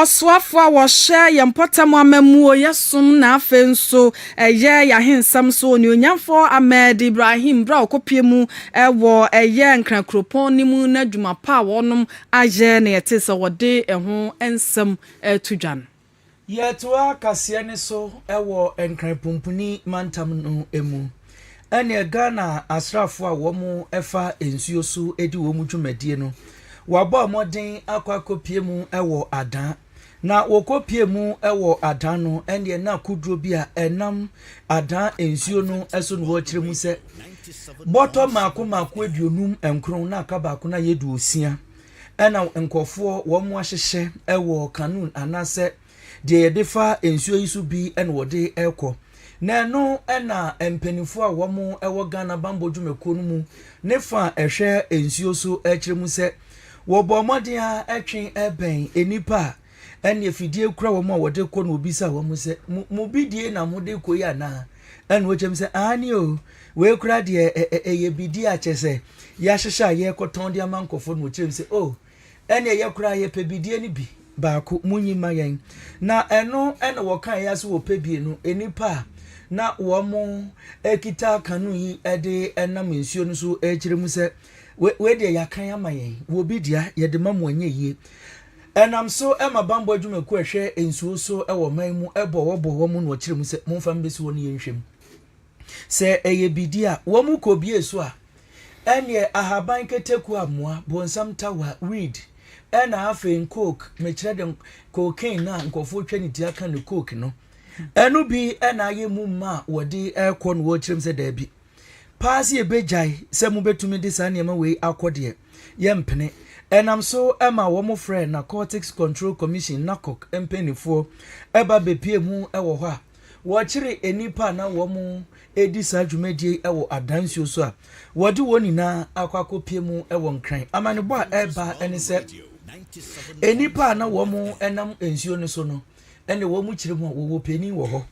Ɔsoafo a wɔhyɛ yɛn mpɔtam amammuo, yɛ som na afei nso ɛyɛ yɛn ahensɛm so onuonyamfo Ahmed Ibrahim berɛ a ɔkɔpue mu wɔ ɛyɛ Nkran kuropɔn no mu no adwuma pa a wɔnom ayɛ na yɛtee sɛ wɔde ɛho nsɛm reto dwa no. Yɛtoa kaseɛ no so wɔ Nkran Pumpuni mantam no mu. Ɛneɛ Ghana asraafoɔ a wɔn fa nsuo so di wɔn dwumadie no, wɔabɔ mmɔden akɔ akɔpie mu wɔ Adan. Na wɔkɔ pie mu wɔ Adan no, ɛneɛ na kodoɔ bi a ɛnam Adan nsuo no so no wɔkyerɛ mu sɛ, bɔtɔ mmaako mmaako aduonum nkron na aka baako no ayɛ duosia. Ɛna nkurɔfoɔ wɔn mo ahyehyɛ ɛwɔ kanun anaasɛ deɛ yɛde fa nsuo yi so bi ɛna wɔde ɛkɔ na ɛno ɛna mpanimfoɔ a wɔn mo ɛwɔ Ghana bambɔ dwumakuo no mu ne fa ɛhwɛ nsuo so ɛkyerɛ mu sɛ wɔbɔ mmɔden a ɛtwe ɛbɛn nnipa a ɛnneɛ fidie kura wɔn a wɔde kɔ na obisa wɔn sɛ mo bidie na mode kɔ yi anaa ɛna wɔkyɛm sɛ aane o wei kura deɛ ɛyɛ bidie a kyɛ sɛ yɛahyehyɛ a yɛrekɔtɔn de ama nkɔfoɔ na wɔkyerɛm sɛ o ɛnneɛ yɛ kura yɛpɛ bidie no bi baako monyi ma yɛn na ɛno ɛna wɔka yɛ so wɔpɛ bie no nnipa a na wɔn kita kano yi de nam nsuo no so ɛkyerɛ mu sɛ wei deɛ yɛakan ama yɛn wɔ bi dea yɛde ma mo ɛnyɛ yie Ɛnam so ma bammɔ adwumakuo a ɛhwɛ nsuo so wɔ ɔman mu bɔ wɔ bɔ wɔn na wɔkyerɛ mu sɛ momfa mbɛsi hɔ ne yɛnhwɛ mu. Sɛ ɛyɛ bidi a wɔn kɔbie so a, ɛnneɛ ahaban kɛtɛkuo amoa, bonsam tawa, weed, ɛna afei nkook, mekyerɛ de cocaine no a nkurɔfoɔ twa ne ti aka no coke no, ɛno bi na ayɛ mu ma a wɔde rekɔ na wɔkyerɛ mu sɛ daabi. paa sɛ yɛbɛgyae sɛ mobɛtumi de saa nneɛma wei akɔ deɛ, yɛmpene. Ɛnam so ma wɔfrɛɛ Narcotics Control Commission, NACOC, mpanimfoɔ ba bɛpuee mu wɔ hɔ a wɔkyeree nnipa a na wɔredi saa dwumadie yi wɔ Adan nsuo so a wɔde wɔn nyinaa akɔ akɔpue mu wɔ Nkran. Amanebɔ a ɛreba ne sɛ nnipa a na wɔnam nsuo no so no, ɛnna wɔkyere mu a wɔwɔ panin wɔ hɔ,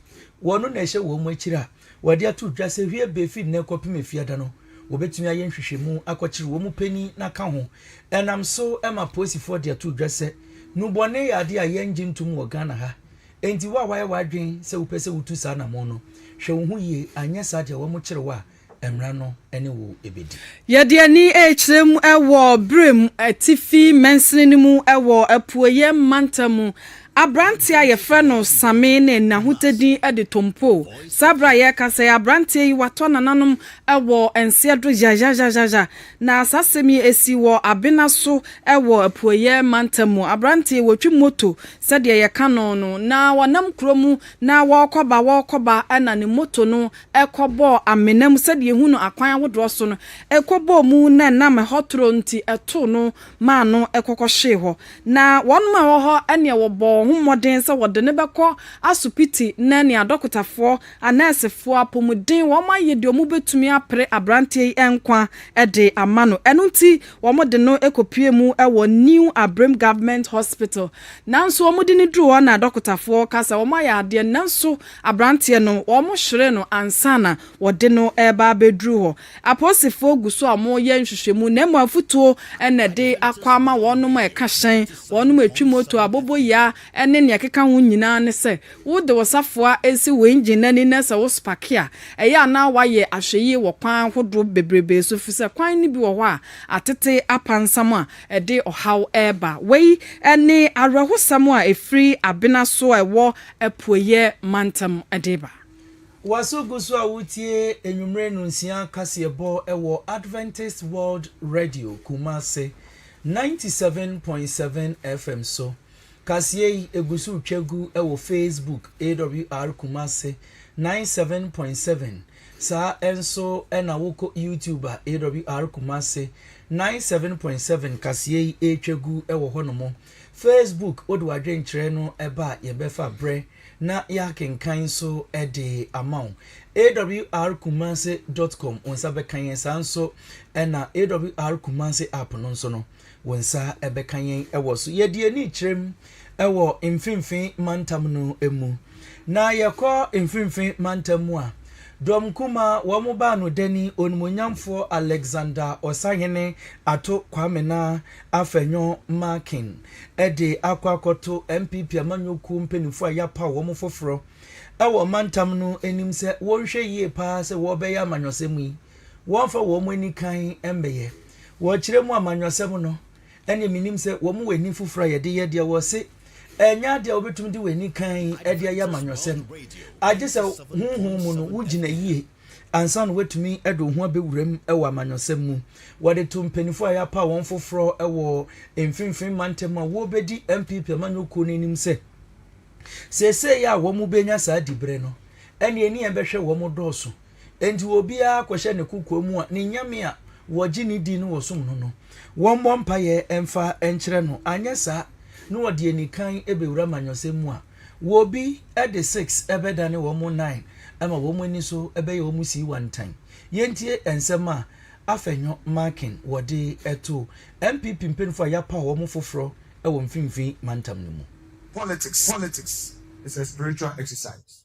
ɔno na ɛhyɛ wɔn akyiri a Wɔde ato dwa sɛ hwie bɛ fi nnɛ kɔpem Afiada no, wɔbɛtumi ayɛ nhwehwɛmu akɔkyere wɔn panin na ka ho. Ɛnam so ma polisifoɔ de ato dwa sɛ nnubɔne yɛ adeɛ a yɛn gye ntom wɔ Ghana ha. Enti wo a wayɛ w'adwen sɛ wopɛ sɛ wotu saa anamɔn no, hwɛ wo ho yie anyɛ saa deɛ wɔn kyere wo a mmra no ne wo bɛdi. Yɛde ani rekyerɛ mu wɔ Birim atifi mansini no mu wɔ apueɛ mantam mu Aberanteɛ a yɛfrɛ no Same ne Nahuta din de Tompoo. Saa berɛ a yɛrekasa yi, aberanteɛ yi watɔ nananom wɔ nseɛ do zhazhazhazhazha. Na saa asɛm yi ɛsi wɔ Abena so wɔ Apueɛ mantam mu. Aberanteɛ yi ɔtwi moto sɛdeɛ yɛka no no, na ɔnam kuro mu na ɔrekɔba ɔrekɔba na ne moto no kɔbɔɔ amena mu sɛdeɛ yɛhu no akwan ahodoɔ so no. Ɛkɔbɔɔ mu na nam ɛhɔ toro nti ɛtoo no maa no kɔkɔhwee hɔ. Na wɔnom a wɔhɔ ɛneɛ wɔbɔ wɔn ho mmɔden sɛ wɔde no bɛkɔ asopiti nɛ nea adɔkotafoɔ, anɛɛsefoɔ, apomuden wɔn ayɛ deɛ wɔn bɛtumi apere abranteɛ yi nkwa de ama no. Ɛno nti wɔn de no kɔpue mu wɔ New Abrim Government Hospital. Nanso wɔn de no duru hɔ na adɔkotafoɔ ka sɛ wɔn ayɛ adeɛ nanso abranteɛ no wɔn hyeree no ansana wɔde no reba abɛduru hɔ. Apolisifoɔ gu so a wɔreyɛ nhwehwɛmu na mmom afutuo na ɛde akɔ ama wɔn a ɛka hyɛn, wɔn a ɛtwi moto, aboboyaa ne nea ɛkeka ho nyinaa ne sɛ wode wo safoa si wo engine no ani na sɛ wosopake a, ɛyɛ a na woayɛ ahwɛyie wɔ kwan ahodoɔ bebrebe so efiri sɛ kwan no bi wɔ hɔ a atete apansam a ɛde ɔhaw reba. Wei ne awerɛhosɛm a ɛfiri Abena so a ɛwɔ Apueeɛ mantam de ba. Waso gu so a woretie anwummere nnɔnsia kaseɛbɔ wɔ Adventist World Radio, Kumasi, ninety seven point seven FM so. Kaseɛ yi gu so retwa gu wɔ Facebook, AWR Kumasi, ninety seven point seven. Saa nso na wokɔ YouTube a, AWR Kumasi, ninety seven point seven kaseɛ yi retwa gu wɔ hɔnom. Facebook, wode w'adwenkyerɛ no ba a, yɛbɛfa berɛ na yɛakenkan nso de ama wo. awrkumase dot com, wo nsa bɛka yɛn. Saa nso na AWR Kumase app no nso no, wo nsa bɛka yɛn wɔ so. Yɛde ani kyerɛ mu wɔ mfimfini mantam no mu. Na yɛkɔ mfimfini mantam mu a, Dɔm Kumaa, wɔn baanodani, Onimonyamfoɔ Alexander Ɔsahene Ato Kwame na Afenyo Markin de akɔ akɔto NPP amanyɔkuo mpaninfoɔ a yɛapaw wɔn foforɔ wɔ mantam no anim sɛ wɔnhwɛ yie pa ara sɛ wɔrebɛyɛ amanyɔsɛm yi, wɔmfa wɔn ani kann mmɛyɛ. Wɔkyerɛ mu amanyɔsɛm no, ɛnneɛ menim sɛ wɔn wɔ ani foforɔ a yɛde yɛ deɛ wɔse ɛnyɛ adeɛ a wobɛtumi de w'ani kann de ayɛ amanyɔsɛm, agye sɛ honhom mu no wogyina yie. ansa na wɔatumi de wo ho abɛwura mu wɔ amanyɔsɛm mu. Wɔde to mpanyinfoɔ a yɛapaw wɔn foforɔ wɔ mfimfini mantam a wɔrebɛdi NPP amanyɔkuo no anim sɛ, seesei a wɔbɛnya saa diberɛ no, ɛnneɛ ne yɛn bɛhwɛ wɔn dɔɔso. Enti obiara kɔhyɛ ne kokoa mu a ne nyame a wɔgye no di na wɔsom no no, wɔmmɔ mpaeɛ mfa nkyerɛ no, anyɛ saa na wɔde anikan bɛwura amanyɔsɛm mu a, Wɔbi de six bɛdane wɔn nine ama wɔn ani so bɛyɛ wɔn sii wantan. Yɛntie nsɛm a Afenyo Markin wɔde to NPP mpanyinfoɔ a yɛapaw wɔn foforɔ wɔ mfinfin mantam no mu. Politics is a spiritual exercise.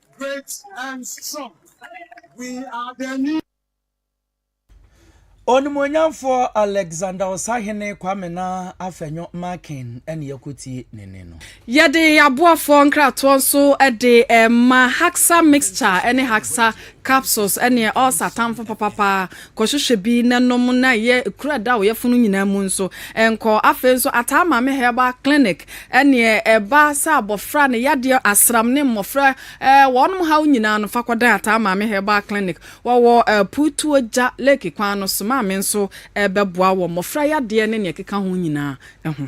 Great and strong, we are the new. Onimuonyamfoɔ Alexander Ɔsahene Kwame Naa Afenyo Markin ne yɛkɔtie ne nne no. Yɛde aboafoɔ nkratoɔ nso de rema Haxa Mixture ne Haxa Capsules, ɛneɛ ɔlsa tamfo papapaa, Kɔhwehwɛ bi na nom na yɛ kuro a da ɔyɛfo no nyinaa mu nso nkɔ. Afei nso Ataa Maame Herbal Clinic neɛ ɛba sɛ abɔfra ne yadeɛ asram ne mmɔfra wɔnom haw nyinaa no fa kɔdan Ataa Maame Herbal Clinic. Wɔwɔ Puutuo Gya Lake kwan no so. Maame nso bɛboa wɔ mmɔfra yadeɛ ne neɛ ɛkeka ho nyinaa ho.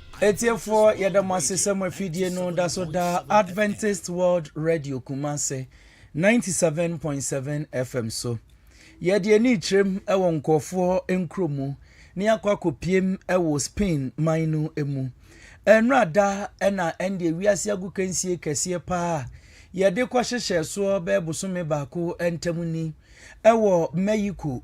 Atiefoɔ, yɛda mo ase sɛ mo afidie no da so da Adventist World Radio Kumase 97.7 FM so. Yɛde ani rekyerɛm wɔ nkurɔfoɔ nkuro mu na yɛakɔ akɔpiem wɔ Spain man no mu. Ɛnora da na ɛndeɛ wiase agu kansie kɛseɛ paa a yɛde kɔhyehyɛ soɔ bɛyɛ bosome baako ntam ni wɔ Mexico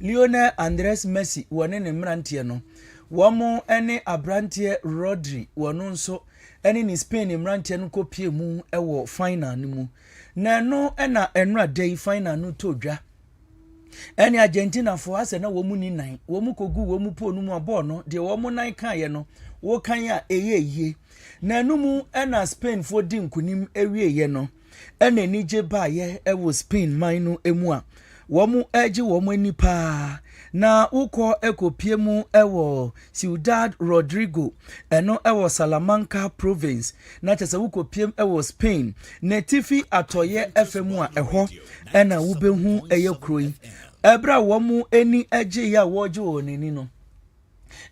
Lionel Andres Messi wɔne ne mmeranteɛ no, wɔn ne aberanteɛ Rodri wɔn nso ne ne Spain mmeranteɛ no kɔpie mu wɔ final no mu. Na ɛno na ɛnora da yi final no tɔ dwa. Ɛne Argentinafoɔ asɛ na wɔn ni nan, wɔn kɔgu wɔn poo no mu a bɔɔl no, deɛ wɔn nan kaeɛ no, wɔkan a ɛyɛ yie. Na ɛno mu na Spainfoɔ di nkonim awieeɛ no. na anigye baeɛ wɔ Spain man no mu a wɔregye wɔn ani paa na wokɔ kɔpie mu wɔ Ciudad Rodrigo ɛno wɔ Salamanca province na kyɛ sɛ wokɔpie mu wɔ Spain n'atifi atɔeɛ ɛfɛ mu a ɛhɔ na wobɛhu ɛyɛ kuro yi ɛberɛ a wɔn ani gyeeɛ a wɔregye wɔn ani no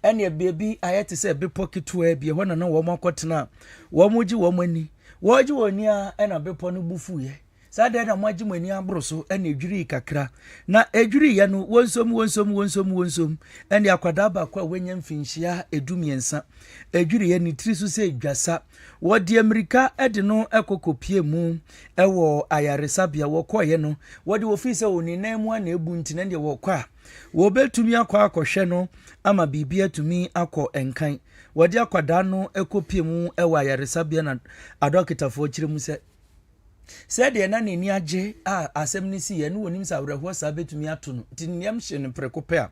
ɛne baabi ayɛ te sɛ bepɔ ketewaa bi ɛhɔ na na wɔn akɔtena a wɔregye wɔn ani wɔregye wɔn ani a ɛna bepɔ no bu fuiɛ saa deɛ na moagye mo ani aboro so ɛna edwirii kakra na edwiriiɛ no wɔnsom wɔnsom wɔnsom wɔnsom ɛne akwadaa baako a wɔanya mfinhyia edu mmiɛnsa edwiriiɛ ne tiri so sɛ dwasa wɔde mmirika de no ɛkɔkɔ pie mu ɛwɔ ayaresabea wɔkɔeɛ no wɔde wɔfii sɛ wɔn nan mu a na ebu nti na deɛ wɔkɔ a Wɔbɛtumi akɔ akɔhwɛ no ama biribi atumi akɔ nkan. Wɔde akwadaa no kɔpie mu wɔ ayaresabea na adɔkotafoɔ kyerɛ mu sɛ, sɛdeɛ na n'ani agye a asɛm no siiɛ no wɔnim sɛ awerɛhoɔ saa bɛtumi ato no nti nneɛm hye no prɛko pɛ a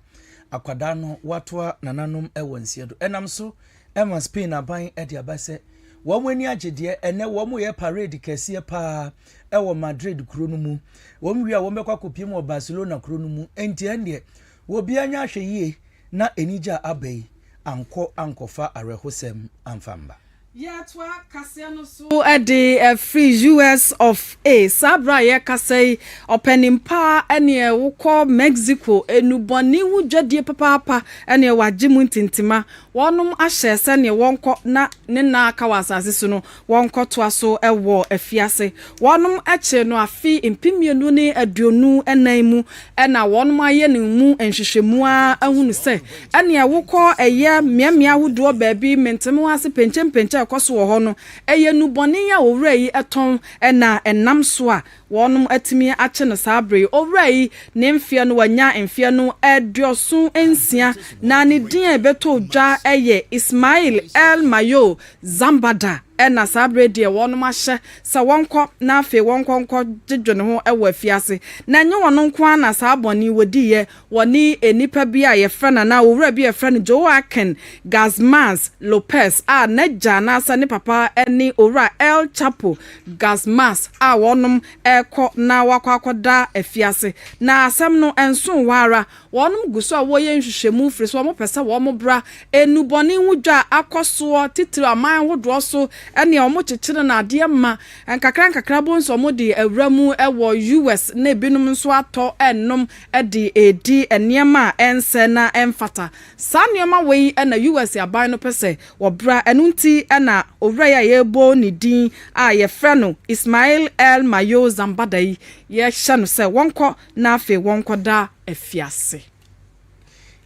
akwadaa no watoa nananom wɔ nseɛ do. Ɛnam so Ɛma Spain aban de aba sɛ wɔn ani agye deɛ ɛnɛ wɔyɛ parade kɛseɛ paa wɔ Madrid kuro no mu. Wɔn wie a wɔbɛkɔ akɔpiem wɔ Barcelona kuro no mu. Enti ɛndeɛ obiara nyɛ ahwɛyie na anigye a aba yi ankɔ ankɔfa awerɛhosɛm amfa mma. Yɛtoa kaseɛ no so de firi US of A. Saa berɛ a yɛrekasa yi, ɔpanin pa neɛ wokɔ Mexico nnubɔne ho dwadie papaapa neɛ wagye mu ntintima. Wɔnom ahyɛ sɛdeɛ wɔnkɔ na ne nna a aka wɔ asase so no wɔnkɔ toa so wɔ afiase. Wɔnom kyere no afe mpemmienu ne aduonu nnan mu na wɔnom ayɛ ne mu nhwehwɛmu ara ahunu sɛ ɛneɛ wokɔ ɛyɛ mmeammea ahodoɔ baabi mentemewa ase penkyɛmpenkyɛ ɛkɔ so wɔ hɔ no ɛyɛ nnubɔne yi a owura yi tɔn na ɛnam so a Wɔnom atumi akye no saa bere yi. Owura yi ne mfeɛ no wanya mfeɛ no aduoson nsia na ne din a ɛbɛtɔɔ dwa yɛ Ismail El Mayo Zambada na saa bere yi deɛ wɔnom ahyɛ sɛ wɔnkɔ na afei wɔnkɔ nkɔ gyegye ne ho wɔ afiase na ɛnyɛ ɔno nko ara na saa bɔne yi wɔdiiɛ Wɔne nnipa bi a wɔfrɛ no anaa owura bi a wɔfrɛ no Joaquin Guzmães Lopez a n'agya anaasɛ ne papa ne Owura El Chapo Guzmães a wɔnom rekɔ na wɔakɔ akɔda afiase. Na asɛm no nsoo hɔ ara. Wɔnom gu so a wɔreyɛ nhwehwɛmu firi sɛ wɔpɛ sɛ wɔn bra. Nnubɔne ho dwa akɔ soɔ titiriw aman hodoɔ so ne a wɔkyekyere no adeɛ ma. Nkakrankakra bohu sɛ wɔde awura mu wɔ US na ebinom nso atɔ nom. de redi nneɛma a ɛnsɛ na ɛmfata. Saa nneɛma wei na US. aban no pɛ sɛ wɔbra, ɛno nti na owura yi a yɛrebɔ ne din a yɛfrɛ no Ismail El-Mayo Zambada yi, yɛhyɛ no sɛ wɔnkɔ na afei wɔnkɔda afiase.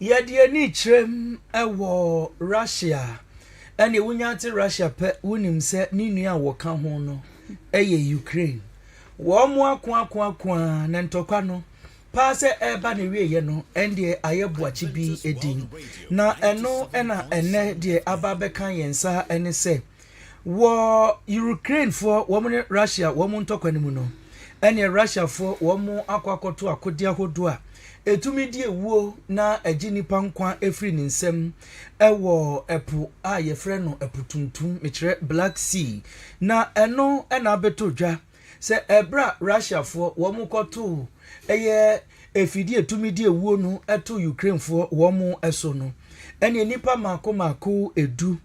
Yɛde ani kyerɛm wɔ Russia. Ɛnde wonya te Russia pɛ, wonim sɛ ne nua a wɔka ho no yɛ Ukraine. Wɔakoakoakoa na ntɔkwa no paa sɛ ɛreba n'awieeɛ no, ɛndeɛ ayɛ boakye bi din. Na ɛno na ɛnnɛ deɛ aba abɛka yɛn nsa ne sɛ, wɔ Ukrainefoɔ wɔn ne Russia wɔn ntɔkwa no mu no, ɛnneɛ Russiafoɔ wɔakɔ akɔto akodeɛ ahodoɔ a ɛtumi di awuo na ɛgye nnipa nkwa firi ne nsam wɔ ɛpo a yɛfrɛ no ɛpo tuntum mekyerɛ black sea na ɛno na abɛtɔ dwa sɛ ɛberɛ a russiafoɔ wɔn kɔtoo ɛyɛ efidie etumi di ewuo no ɛto ukrainefoɔ wɔn ɛso no ɛne nnipa mako mako edu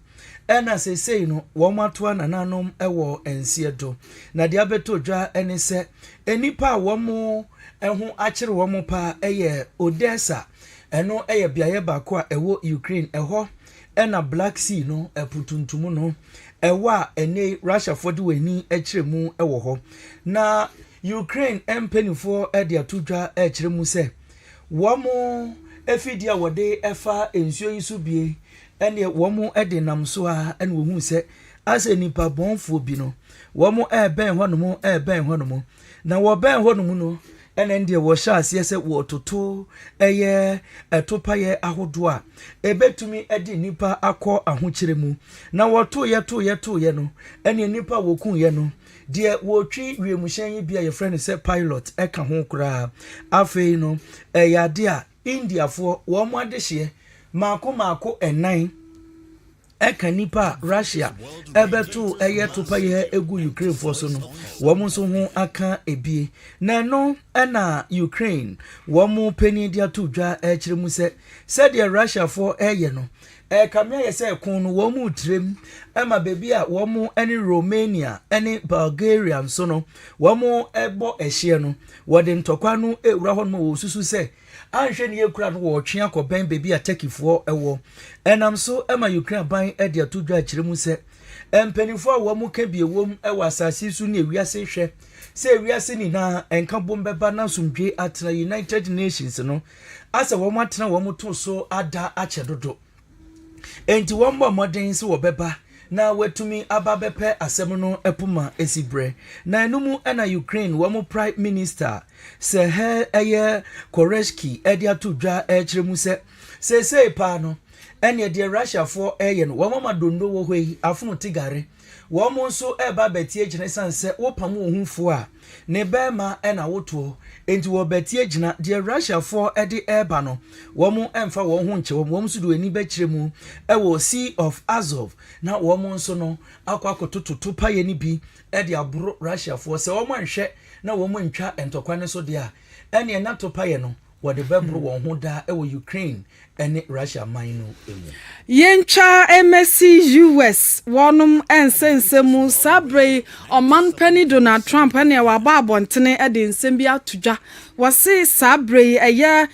ɛna sesei no wɔn atoa nananom ɛwɔ nseɛ do na deɛ abɛtɔ dwa ɛne sɛ nnipa a wɔn ɛho akyere wɔn paa ɛyɛ odessa Ɛno yɛ beaeɛ baako a ɛwɔ Ukraine. Ɛhɔ na Black Sea no, ɛpo tuntum no, ɛwɔ a ɛnɛ Russiafoɔ de wɔn ani kyerɛ mu wɔ hɔ. Na Ukraine mpanimfoɔ de ato dwa kyerɛ mu sɛ wɔn afidie a wɔde fa nsuo yi so bie ɛneɛ wɔn de nam so a ɛna wɔhu sɛ asɛ nipa bɔnfoɔ bi no wɔn ɛrebɛn hɔ nom ɛrebɛn hɔ nom na wɔbɛn hɔ nom no Ɛnna ɛndeɛ wɔhyɛ aseɛ sɛ wɔretoto ɛyɛ ɛtopayɛ ahodoɔ a ɛbɛtumi de nnipa akɔ ahokyerɛ mu. Na wɔtoeɛ toeɛ toeɛ no, ɛnneɛ nnipa a wɔkuiɛ no, deɛ wɔtwi wiemhyɛn yi bi a yɛfrɛ no sɛ pilot ka ho koraa. Afei no, ɛyɛ adeɛ a Indiafoɔ, wɔn adehyeɛ mmaako mmaako nnan ka nnipa a Russia bɛtoo ɛyɛ topayɛ gu Ukrainefoɔ so no, wɔn nso ho aka ebie. Na ɛno na Ukraine wɔn panin de ato dwa kyerɛ mu sɛ sɛdeɛ Russiafoɔ reyɛ no, Ɛrekame ayɛ sɛ ko no wɔretrem ma baabi a wɔne Romania ne Bulgaria nso no wɔbɔ ɛhyeɛ no, wɔde ntɔkwa no rewura hɔ nom wɔsusu sɛ anhwɛ ne yɛ kura no wɔretwe akɔbɛn baabi a Turkeyfoɔ wɔ. Ɛnam so ma Ukraine aban de ato dwa akyerɛ mu sɛ mpanimfoɔ a wɔn ka bi wom wɔ asase so ne wiase hwɛ sɛ wiase nyinaa nka bom bɛba na asomdwoe atena United Nations no asɛ wɔn atena wɔn to so ada akyɛ dodo. Enti wɔn bɔ mmɔden sɛ wɔbɛba na wɔatumi aba bɛpɛ asɛm no poma esi brɛ. Na ɛno mu na Ukraine wɔn Prime Minister Serhiy ɛyɛ Koreshki ɛde ato dwa ɛkyerɛ mu sɛ seesei paa no ɛneɛ deɛ Russiafoɔ ɛyɛ no wɔn ama dondo wɔ hɔ yi afono te gare. Wɔn nso reba abɛte agyina esiane sɛ wopam wɔn ho fuo a ne barima na wotoɔ nti wɔbɛte agyina. Deɛ Russiafoɔ de reba no, wɔmfa wɔn ho nkyɛ wɔn. Wɔn nso de wɔn ani bɛkyerɛ mu wɔ Sea of Azov na wɔn nso no akɔ akɔtoto topaeɛ no bi de aboro Russiafoɔ. Sɛ wɔanhwɛ na wɔantwa ntɔkwa no so deɛ a, ɛnneɛ na topaeɛ no wɔde bɛboro wɔn ho daa wɔ Ukraine ne Russia man no mu. Yɛntwa mmɛsi US wɔnom nsɛnsɛm mu, saa berɛ yi ɔman panin Donald Trump ɛneɛ waba abɔntene de nsɛm bi ato dwa. Wɔse saa berɛ yi ɛyɛ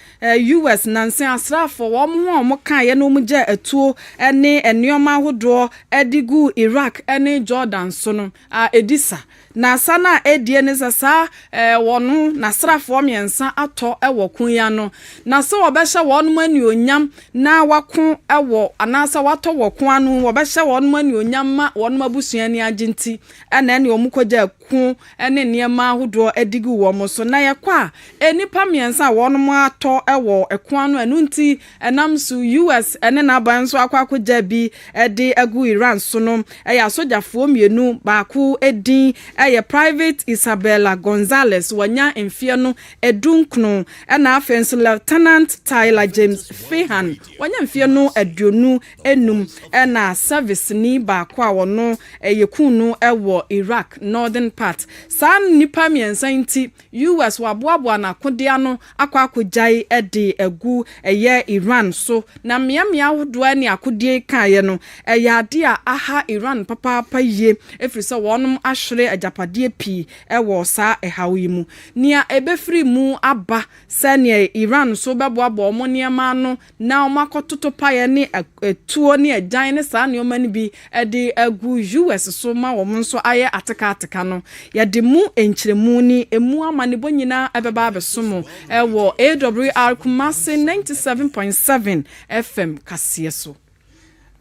US nansen asraafoɔ wɔn ho a wɔn kaeɛ na wɔn gyaa atuo ne nneɛma ahodoɔ de guu Iraq ne Jordan so no. a edi sa, na sa no a edie ne sɛ saa ɛɛ wɔno n'asraafoɔ mmiɛnsa atɔ wɔ ko yi ano, na sɛ wɔbɛhyɛ wɔnom anuonyam na wɔako wɔ anaasɛ wɔatɔ wɔ ko ano, wɔbɛhyɛ wɔnom anuonyam ma wɔnom abusua ani agye nti na ɛne wɔn kɔgyaa ko ne nneɛma ahodoɔ de guu wɔn so, na yɛkɔ a nnipa mmiɛnsa a wɔnom atɔ wɔ ko ano, ɛno nti Ɛnam so, US ne n'aban nso akɔ akogyaa bi de agu Iran so no yɛ asogyafoɔ mmienu, baako din yɛ Private Isabella Gonzalez, wanya mfeɛ no du nkono, ɛna afei nso Lieutenant Tyler James Fehan, wanya mfeɛ no aduonu nnum, ɛna sɛviseni baako a ɔno yɛkuu no wɔ Iraq northern part. Saa nnipa mmiɛnsa yi nti, US wɔaboaboa n'akodeɛ ano akɔ akɔgyae de agu ɛyɛ Iran so, na mmeammea ahodoɔ a ɛne akodeɛ yi kaeɛ no, ɛyɛ adeɛ a aha Iran papaapa yie, ɛfiri sɛ wɔnom ahwere agyapadeɛ pii wɔ saa ɛhaw yi mu. Nea ɛbɛfiri mu aba sɛdeɛ Iran nso bɛboaboa wɔn nneɛma ano na wɔakɔtoto paeɛ ne atuo ne agyan ne saa nneɛma no bi de agu US so ma wɔn nso ayɛ ateka ateka no, yɛde mo nkyerɛmu ne ɛmu amanebɔ nyinaa ɛbɛba abɛso mo wɔ AWR Kumasi 97.7 FM kaseɛ so.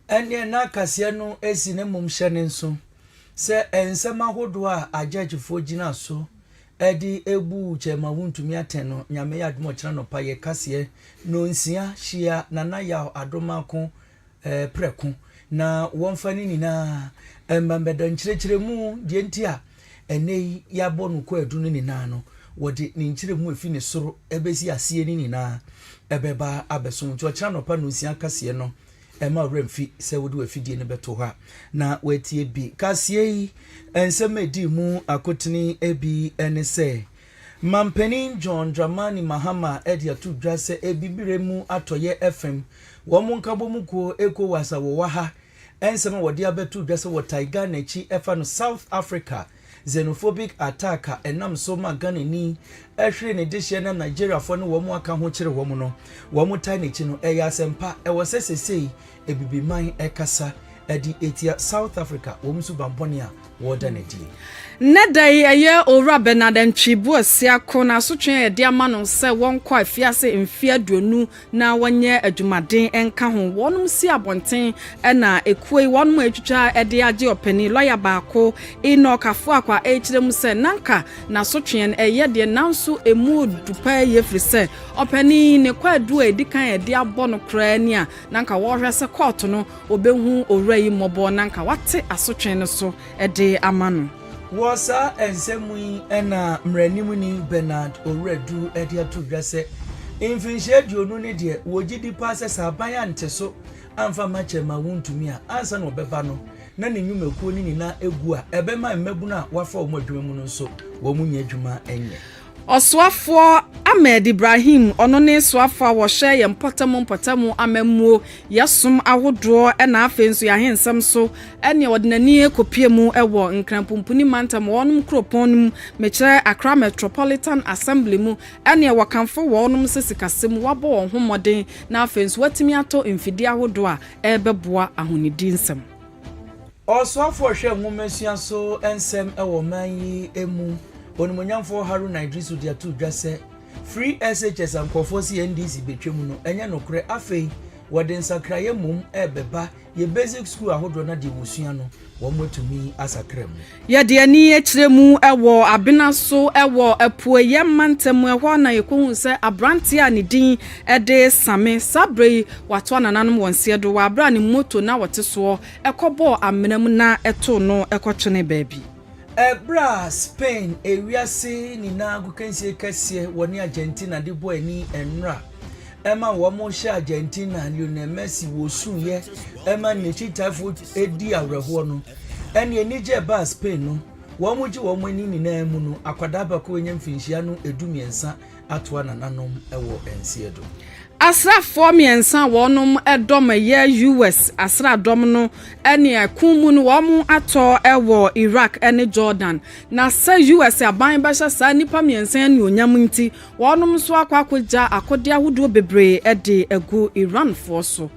Ɛnneɛ na kaseɛ no si ne mmomhyɛ no nso sɛ nsɛm ahodoɔ a agyɛgyefoɔ gyina so Ɛde ebu kyɛ ma wontumi atɛn no, Nyame yɛ adom a ɔkyena nɔpa yɛ kaseɛ nonsia hyia Nana Yaw Adomako eh, prɛko na wɔmfa ne nyinaa mma mmɛda nkyerɛkyerɛmu deɛ nti a ɛnnɛ yi yɛabɔ no kwaadu no nyinaa no wɔde ne nkyerɛmu a ɛfi ne soro ɛbɛsi aseɛ no nyinaa ɛbɛba abɛso nti ɔkyena nɔpa nonsia kaseɛ no Mma wo werɛ mfi sɛ wode w'afidie no bɛto hɔ a na woatie bi. Kaseɛ yi nsɛm a ɛdii mu akotene bi ne sɛ, Mampanin John Dramani Mahama de ato dwa sɛ Abibire mu Atɔeɛ fam wɔn nkabɔmu kuo, Ecowas, a wɔwɔ ha nsɛm a wɔde abɛto dwa sɛ wɔtae Ghana akyi fa no South Africa xenophobic attack a ɛnam so ma Ghanani hwere ne dehyeɛ na Nigeriafoɔ ne wɔn a aka ho kyere wɔn no, wɔtae n'akyi no, ɛyɛ asɛmpa. Ɛwɔ sɛ seesei Abibiman kasa de atia South Africa wɔn suban bɔne a wɔda no adi yi. Nnɛ da yi, ɛyɛ Owura Bernard Antwi Boasia Ko na asotwe a yɛde ama no sɛ wɔnkɔ afiase mfe aduonu na wɔnyɛ adwumaden nka ho. Wɔnom si abɔnten na ekuo yi wɔnom a etwitwa de agye ɔpanin lɔya baako Enoch Afuakwa a ɛrekyerɛ mu sɛ nanka n'asotweɛ no ɛyɛ deɛ nanso emu du paa yie firi sɛ ɔpanin yi ne kwaadu a edi kan a ɛde abɔ no koraa ni a nanka wɔrehwɛ sɛ kɔɔto no wɔbɛhu owura yi mmɔbɔ nanka wate asotwee no so de ama no. Wɔ saa nsɛm mu yi na mmaranimni Bernard Owuraduru de ato dwa sɛ mfinhyia aduonu ne deɛ wɔgye di paa sɛ sɛ aban ante so amfa amma kyɛrema a wontumi a ansa na ɔbɛba no na ne nnwumakuo no nyinaa agu a ɛbɛma mmabunu a wɔafa wɔn adwuma mu no nso wɔn nyɛ adwuma nyɛ. Ɔsoafoɔ Ahmed Ibrahim, ɔno ne soafoɔ a wɔhwɛ yɛn mpɔtam mpɔtam amammuo, yɛn som ahodoɔ na afei nso yɛn ahensɛm so ne ɔde n'ani kɔpie mu wɔ Nkran Pumpuni Mantam wɔnom kuropɔn no mu, mekyerɛ Accra Metropolitan Assembly mu, ɛneɛ wɔkamfo wɔnom sɛ sikasɛm wɔabɔ wɔn ho mmɔden na afei nso wɔatumi atɔ mfidie ahodoɔ a ɛrebɛboa ahonidi nsɛm. Ɔsoafoɔ hwɛ nwomasua so nsɛm wɔ ɔman yi mu, Onimuonyamfoɔ Haruna Iddrisu de ato dwa sɛ Free SHS a nkurɔfoɔ se NDC bɛtwam no ɛnyɛ nokorɛ, afei wɔde nsakraeɛ mmom rebɛba yɛ basic sukuu ahodoɔ na deɛ wɔsua no wɔatumi asakra mu. Yɛde ani kyerɛ mu wɔ Abena so wɔ Apueɛ mantam, ɛhɔ ara na yɛkɔhuu sɛ aberanteɛ a ne din de Same, saa berɛ yi wato anananom wɔ nseɛ dowa berɛ a ne moto no a ɔte soɔ Ɛkɔbɔɔ amena mu na ɛtow no kɔtwenee baabi. Bere a Spain, wiase nyinaa agokansie kɛseɛ, wɔne Argentina de bɔɔ ani nnora ma wɔhyɛɛ Argentina Lionel Messi wɔsuiɛ ma ne kyitaafoɔ dii awerɛhoɔ no, ɛnneɛ anigyeɛ a ɛbaa Spain no, wɔgye wɔn ani nyinaa mu no, akwadaa baako a wanya mfirinhyia no du mmiɛnsa Atoa nananom wɔ nseɛ do. Asraafoɔ mmiɛnsa a wɔn dɔm yɛ US asraadɔm no ne ɛko mu no wɔn atɔ wɔ Iraq ne Jordan. Na sɛ US aban bɛhyɛ saa nnipa mmiɛnsa anuonyam nti, wɔn nso akɔ akɔgya akodeɛ ahodoɔ bebree de agu Iranfoɔ so.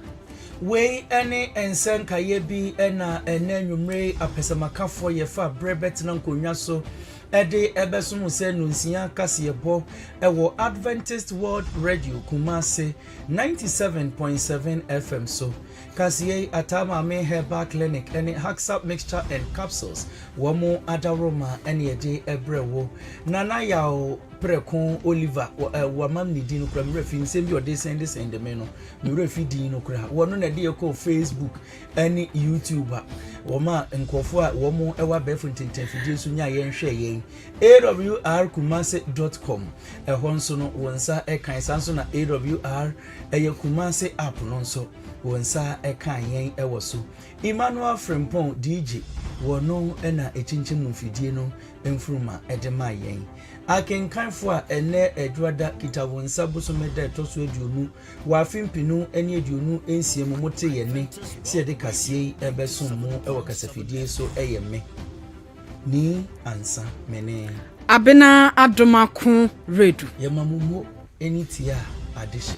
Wei ne nsa nkaeɛ bi na ɛnnɛ anwummere yi apɛsɛmakafoɔ yɛfa berɛ bɛtena nkonnwa so de rebɛsom wo sɛ Nonsia kaseɛbɔ wɔ Adventist World Radio Kumasi 97.7 FM so. Kaseɛ yi Ataa Maame Herbal Clinic ne Haxap Mixture and Capsules wɔn adaworoma ne ɛde brɛ wo. Nana Yaw Prɛko Oliver wɔ ɛ wɔama me ne din no kora me werɛ fi nsɛm bi a ɔde sɛndesɛnde me no me werɛ fi din no kora wɔno na ɛde yɛ kɔɔ Facebook ɛne YouTube a wɔma nkurɔfoɔ a wɔn wɔ abɛɛfo ntentɛnfidie so nya yɛn hwɛ yɛn awr kumase dot com ɛhɔ nso no wɔn nsa ɛkan saa nso na awr ɛyɛ kumase app no nso wɔn nsa ɛkan yɛn ɛwɔ so emmanuel frimpong dj wɔn no ɛna ɛkyinkyim mu mfidie no mfuruma ɛde ma yɛn akenkanfoɔ a ɛnɛ adwada kita wɔn nsa bosome da ɛtɔ so aduonu Wɔ afe mpenu ne aduonu nsia mu motee yɛn nne sɛ yɛde kaseɛ yi rebɛsom mo wɔ kasafidie yi so ɛyɛ me, Nii Ansa, Mene. Abena adom ako redu. Yɛma mo mo ani tie a ade hye.